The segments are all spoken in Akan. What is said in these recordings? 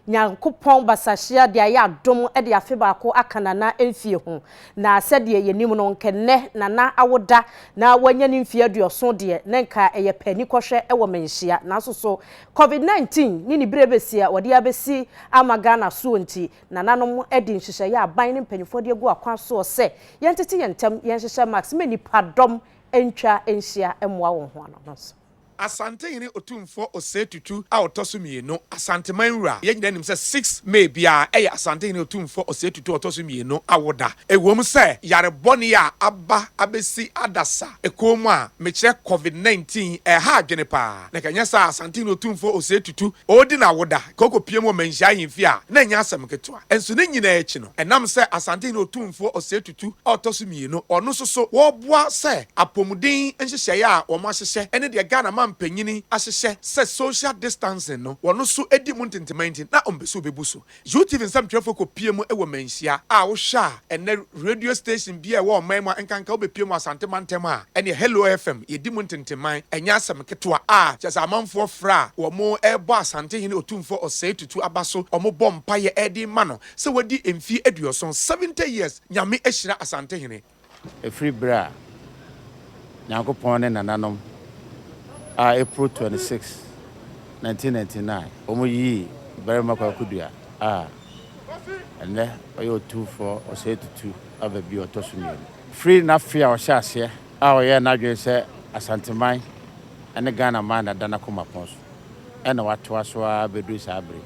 Nyankopɔn basahyia de ayɛ adom de afe baako aka Nana mfie ho. Na sɛdeɛ yɛnim no, nka nnɛ Nana awo da na wanya ne mfie aduɔson deɛ, na nka ɛyɛ pɛ ani kɔhwɛ wɔ Manhyia. Nanso so, Covid 19 ne ne berɛ bɛsi a wɔde abɛsi ama Ghana soɔ nti, Nananom adi nhyehyɛeɛ a aban ne mpanimfoɔ de agu akwan soɔ sɛ yɛntete yɛn ntam, yɛnhyehyɛ mask ma nnipadɔm ntwa nhyia mmoa wɔn ho ano no so. Asantehene Otumfoɔ Osei Tutu a ɔtɔ so mmienu, Asanteman wura. Yɛn nyinaa nim sɛ six May biara yɛ Asantehene Otumfoɔ Osei Tutu a ɔtɔ so mmienu awoda. Ɛwom sɛ yare bɔne a aba abɛsi adasa kɔn mu a mekyerɛ Covid nineteen ɛreha adwene pa ara, na ɛkanyɛ saa a Asantehene Otumfoɔ Osei Tutu ɔredi n'awoda, kɔkɔpiem wɔ Manhyia Ahemfie a na ɛnyɛ asɛm ketewa. Nso ne nyinaa akyi no, ɛnam sɛ Asantehene Otumfoɔ Osei Tutu. Tu a ɔtɔ so mmienu, ɔno nso so wɔboa sɛ apɔmuden nhyehyɛeɛ a wɔahyehyɛ ne deɛ Ghana mampanin ahyehyɛ sɛ social distancing no wɔn nso di mu ntenteman nti na wɔmpɛ sɛ wɔbɛbu so. UTV nsɛmtwerɛfoɔ kɔpie mu wɔ manhyia a wohwɛ a ɛnnɛ radio station biara a ɛwɔ ɔman mu a nkanka wobɛpie mu Asante mantam a ɛneɛ Hello FM yɛdi mu ntenteman ɛnyɛ asɛm ketewa a kyerɛ sɛ amanfoɔ frɛ a wɔrebɔ Asantehene Otumfoɔ Osei Tutu Aba so wɔbɔ mpaeɛ de rema no sɛ wadi mfie aduɔson, seventy years, Nyame ahyira Asantehene. Ɛfiri berɛ a Nyankopɔn ne nananom a April twenty six, nineteen ninety nine wɔyii Barima Kwaku Dua a ɛnnɛ ɔyɛ Otumfoɔ Osei Tutu aba bio ɔtɔ so mmienu. Firi n'afe a ɔhyɛɛ aseɛ a ɔyɛɛ n'adwene sɛ Asanteman ne Ghanaman na ɛda n'akoma pɔn so na watoa so ara bɛduru saa berɛ yi.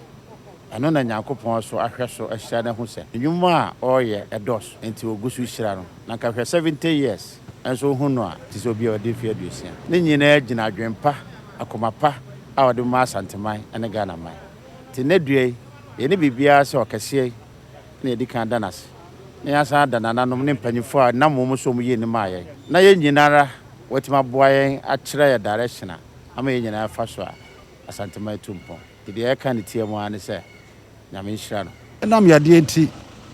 Ɛno na Nyankopɔn so ahwɛ so ahyira no ahu sɛ nnwuma a ɔreyɛ dɔɔso nti ogu so hyira no. Na nka hwɛ seventy years nso wohu no a te sɛ obi a wadi mfe aduosia. Ne nyinaa gyina adwene pa, akoma pa a ɔde ma Asanteman ne Ghana man. Te nnɛ dua yi, yɛne biribiara sɛ ɔkɛseɛ yi na yɛdi kan da no ase na yɛasan ada nananom ne mpanyimfoɔ a nam wɔn so a wɔyɛɛ nim maa yɛn na yɛn nyinara wɔatumi aboa yɛn akyerɛ yɛn direction a ama yɛn nyinaa afa so a Asanteman atu mpɔn. Deɛ ɛka ne tirim ara ne sɛ, Nyame nhyira no. Ɛnam yadeɛ nti,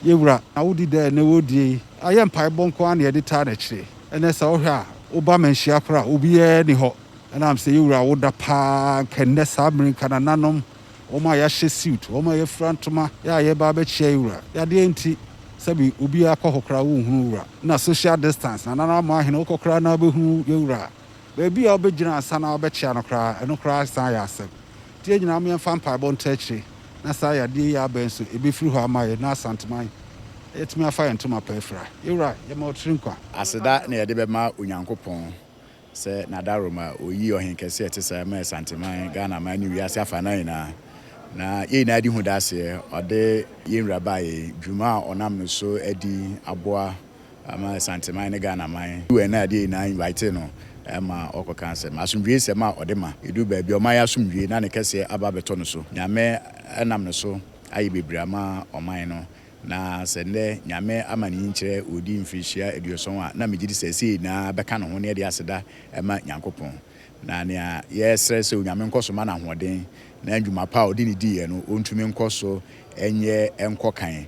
yɛn Wura, na wodi dɛ ɛnnɛ wodie yi ayɛ mpaebɔ nko ara na yɛde taa n'akyire. Ɛnnɛ sɛ wohwɛ a, wo ba manhyia koraa a, obiara nni hɔ. Ɛnam sɛ yɛn Wura woda paa, anka nnɛ saa mmere nka nananom, wɔn a yɛahyɛ suit, wɔn a yɛafira ntoma, yɛ a yɛreba abɛkyia yɛn Wura. Yadeɛ nti, sɛbe obiara kɔ hɔ koraa wonhunu wo Wura. Ɛna social distance, nananom ama ahene, wokɔ koraa na wobɛhunu yɛn Wura. Baabi a wobɛgyina ansa na wobɛkyia no koraa, ɛno koraa san yɛ asɛm. Nti yɛn nyinaa mo yɛmfa mpaebɔ nto akyire na saa yadeɛ yi abɛn so ɛbɛfiri hɔ ama yɛn na Asanteman atumi afa yɛn ntoma pa afira. Yɛwura, yɛma wo tiri nkwa. Aseda na yɛde bɛma Onyankopɔn sɛ N'adaworo ma Ɔyii Ɔhenkɛseɛ a ɛte saa maa Asanteman, Ghanaman ne wiase afanan nyinaa. Na yɛn nyinaa di ho danseɛ, Ɔde yɛn Wura baa yɛn dwuma a Ɔnam no so adi aboa, ama Asanteman ne Ghanaman. UN a ɛdeɛ nyinaa invitee no ma ɔkɔka asɛm. Asomdwoesɛm a ɔde ma. Ɛduru baabi a ɔman yi asomdwoe na ne kɛseɛ aba abɛtɔ no so. Nyame nam ne so ayɛ bebree ama ɔman no na sɛ nnɛ Nyame ama ne nyinkyerɛ ɔredi mfirihyia aduɔsɔn a na megye di sɛ ɛsei nyinaa bɛka ne ho na yɛde aseda ma Nyankopɔn. Na nea yɛsrɛ sɛ Onyame nkɔ so ma no ahoɔden na ndwuma pa a ɔde no diiɛ no ɔntumi nkɔ so nyɛ nkɔ kan.